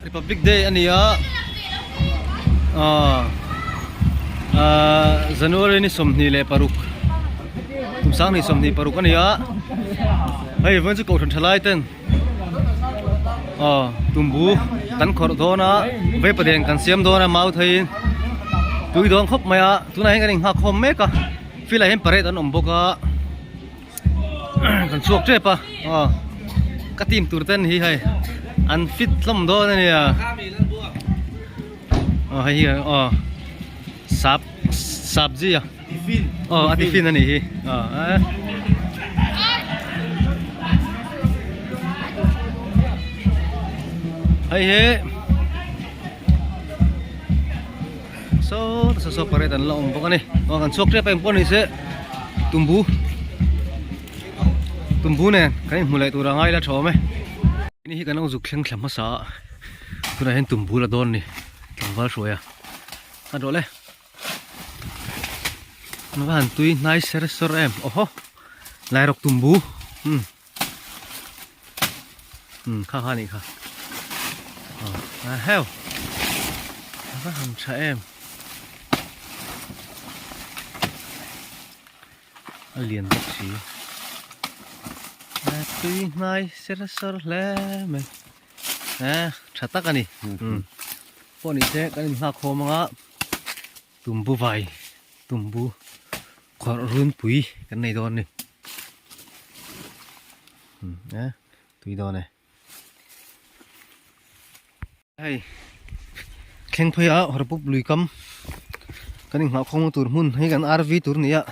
Republic Day a ni a ah ah January ni sawmhnih leh paruk kum sangni sawmhnih paruk a ni a hei vawiin chu kohhran tha lai ten ah tumbu kan khawrh dawn a veipa den kan siam dawn a mau theiin tui dawn khawp mai a tunah hian kan inhak khawm mek a field ah hian parade an awm bawk a. kan chhuak tep a aw ka team tur te an ni hei an fit hlawm dawn a nia aw hei hi aw sap sapji a aw a tiffin a nih hi aw eeh hei hi. Saw ta saw saw parade an la awm bawk a ni aw kan chhuak tep a em pawh a ni se Tumbu Tumbu nen kan inhmu leh tura ngai la thawm e ni hi kan awmzuk thleng thla hmasa a tunah hian Tumbu la dawn a ni tlangval hruai a a ni tawh le an va han tui hnai ser sawr em awh ho Lairok Tumbu umm. Hmm, kha kha ni kha. Ah, ah heo. Kha ham cha em. Alien bak si. Ah, tui nai ser ser le me. Ah, cha tak ani. Hmm. Poni te kan hla khom nga. Tumbu vai. Tumbu. Khuar runpui kan nei dawn ni. Hmm, eh, tui dawn e. Hei, thleng phai a horpup lui kam. Kan inghah khawng tur hmun, hei kan RV tur ni a.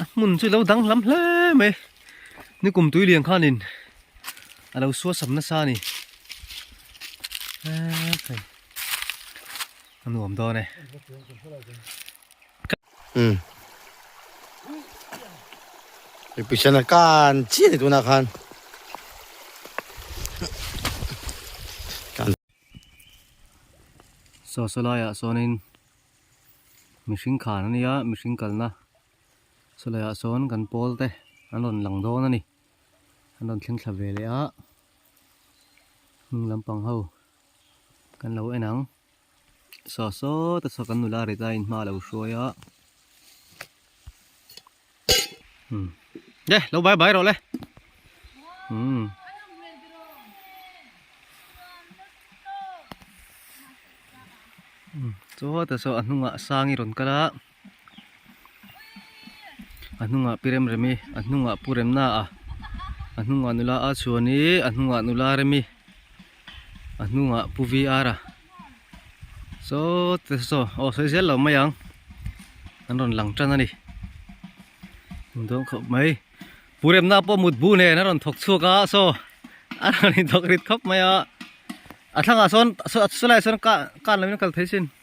A hmun chu lo dang hlam hle mai. Ni kum tui lian khan in. A lo suat sam na sa ni. Eh, thei. Anuam dawn e. Umm. I pisan a kan chiah ni tunah khan. Sawsalaiah sawnin mihring khan a nia mihring kalna chulaiah sawn kan pawlte an rawn lang dawn a ni an rawn thleng thla ve leh a hnung lampang ho kan lo en ang. Saw saw ta chhak an nu la reta in hma lo hruai a. Hmm. Ye, lo bai bai ro le. Hmm. Saw ta saw a hnunga sangi ron kala. a hnungah pi rem rem i a hnungah pu rem na a a hnungah nula a chuan i a hnungah nula rem i a hnungah pu vr a saw teh saw aw sawi zel lo mai ang an rawn lang tan a ni a dawm khawp mai pu rem na pawh mut bu nen a rawn thawk chhuak a saw a rawn inthawk rit khawp mai a a thlangah sawn a saw lai sawn kan lo in a kal thei chin.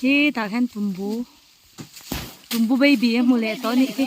Hi tah hian tumbu tumbu baby a hmu leh tawh a nih hi.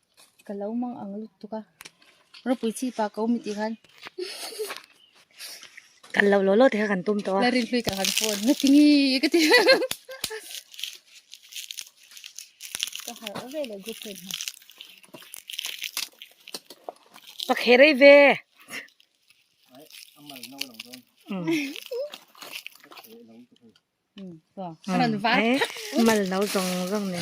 ka lo mang ang lutuk a, Ropui chi pa ka awm tih khan kan lo lo lo te kha kan tum tawh a, la rilhlui ta khan phone nga ti ngi ka ti ka har a ve le group ten ha pa kherei ve amal no lang don mal no zong zong ne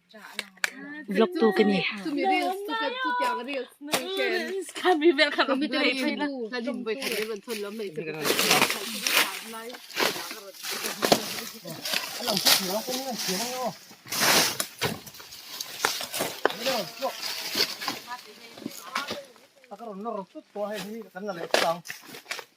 vlog tu ka ni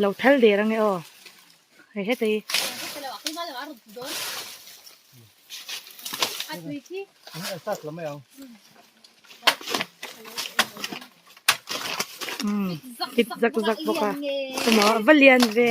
lo thal der ange aw hei heta hi umm tip zak zak bawk a emaw a va lian ve.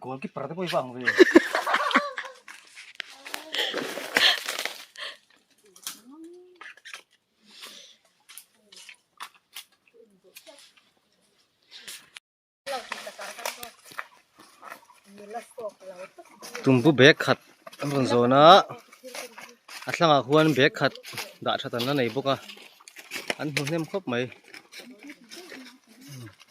Goal keeper te pawh i vang ve. Tumpu bag khat an rawn zawn a a thlangah khuan bag khat dah that an la nei bawk a an hmu hnem khawp mai.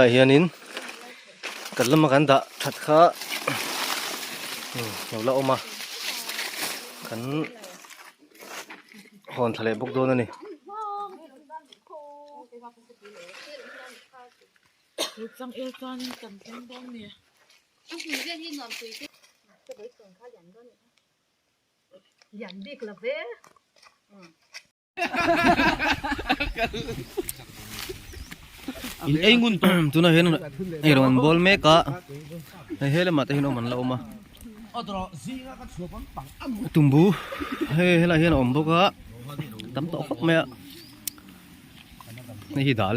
Tunah hianin kan lama kan dah that kha hnu la awm a, kan hawn thla leh bawk dawn a ni. in ei ngun tawh tuna hian hei rawn bawl mek a hei he lamah te hian awm an la awm a tumbu hei helaiah hian a awm bawk a tam tawh khawp mai a hei hi dal.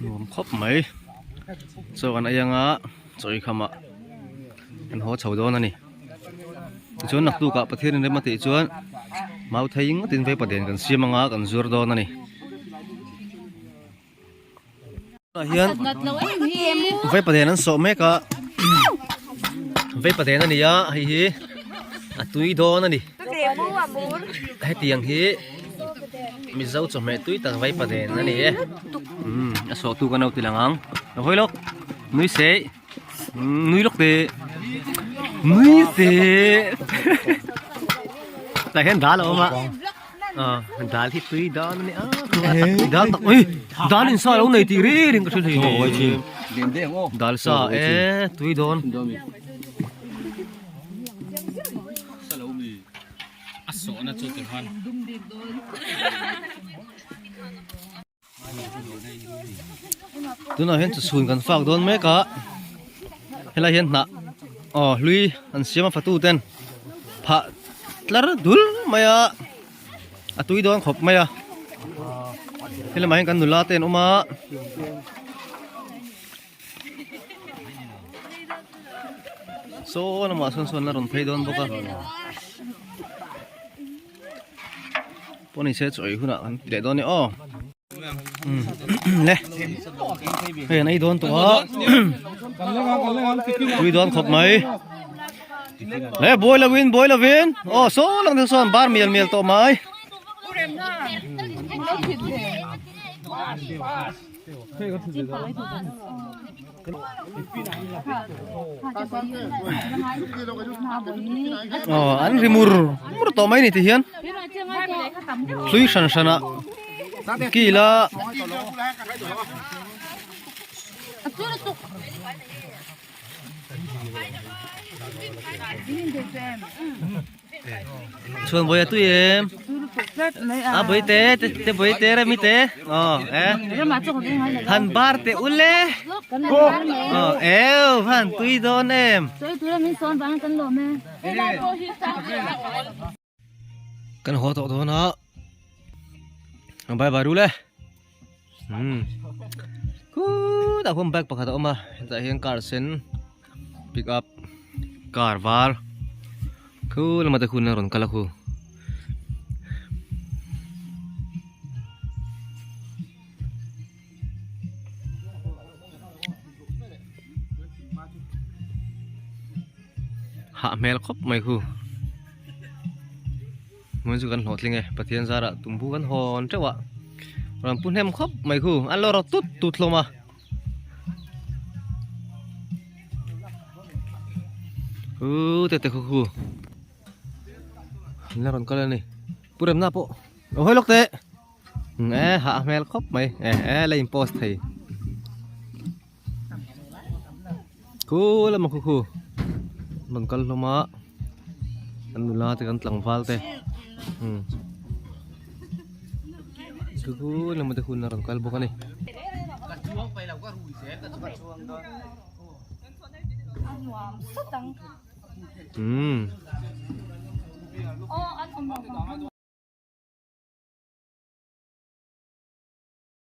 nuam khawp mai chaw kan ei anga chaw ei khamah kan haw chho dawn a ni tichuan laktuk ah pathian in rem a tih chuan mau thei ngawt in vaipa den kan siam anga kan zuar dawn a ni. hian vaipa nen an sawh mek a vaipa nen a ni a hei hi a tui dawn a ni hetiang hi mizo chawhmeh tui tak vaipa nen a ni e a sawhtu ka naute lang ang a hawi lawk nui sei. nui lawk te nui se tah hian dal a awm a dal hi tui dan a ni a dal tak ui dal in sa lo nei tih reng reng ka hre thei dal sa e tui dawn a sawhna chu ti khan tunah hian chu chhun kan fak dawn mek a helai hian hnah aw hlui an siam a fatu ten phah tlar dul mai a a tui dawn khawp mai a helamah hian kan nula te an awm a saw lamah sawn sawn a rawn phei dawn bawk a Pawn in se chawi hunah kan ti leh dawn ni aw. Le. Hei an ei dawn tawh a. Tui dawn khawp mai. Le boy lo win boy lo win. Oh so lang thil sawn bar mial mial tawh mai. Pass pass. aw an ri mur mur tawh mai a ni tih hian hlui hran hran a kil a Chuan bawih a tui em? A bawih te, te bawih te remi te? Aw, e? Han bar teh u le? Aw, eo, han tui dawn em? Kan haw tawh dawn a, han bai bar u le? ku da hum bag pakhat a awm a heta hian car sen pick up car var khu lama te khun a rawn kal a khu hah hmel khawp mai khu Hmun chu kan hlawh tling e, Pathian zarah tumbu kan hawn teuh a, rawn pu hnem khawp mai khu, an lo rak tut tut hlawm a. Uu te te khu khu. An la rawn kal a ni. Pu remna pawh. Lo hoi lawk teh. Nge ha a hmel khawp mai. E e la in post thei. Khua lama khu khu Rawn kal hlawm a Kan nula te kan tlangval te umm Khua khu lama te hunna rawn kal bawk a ni umm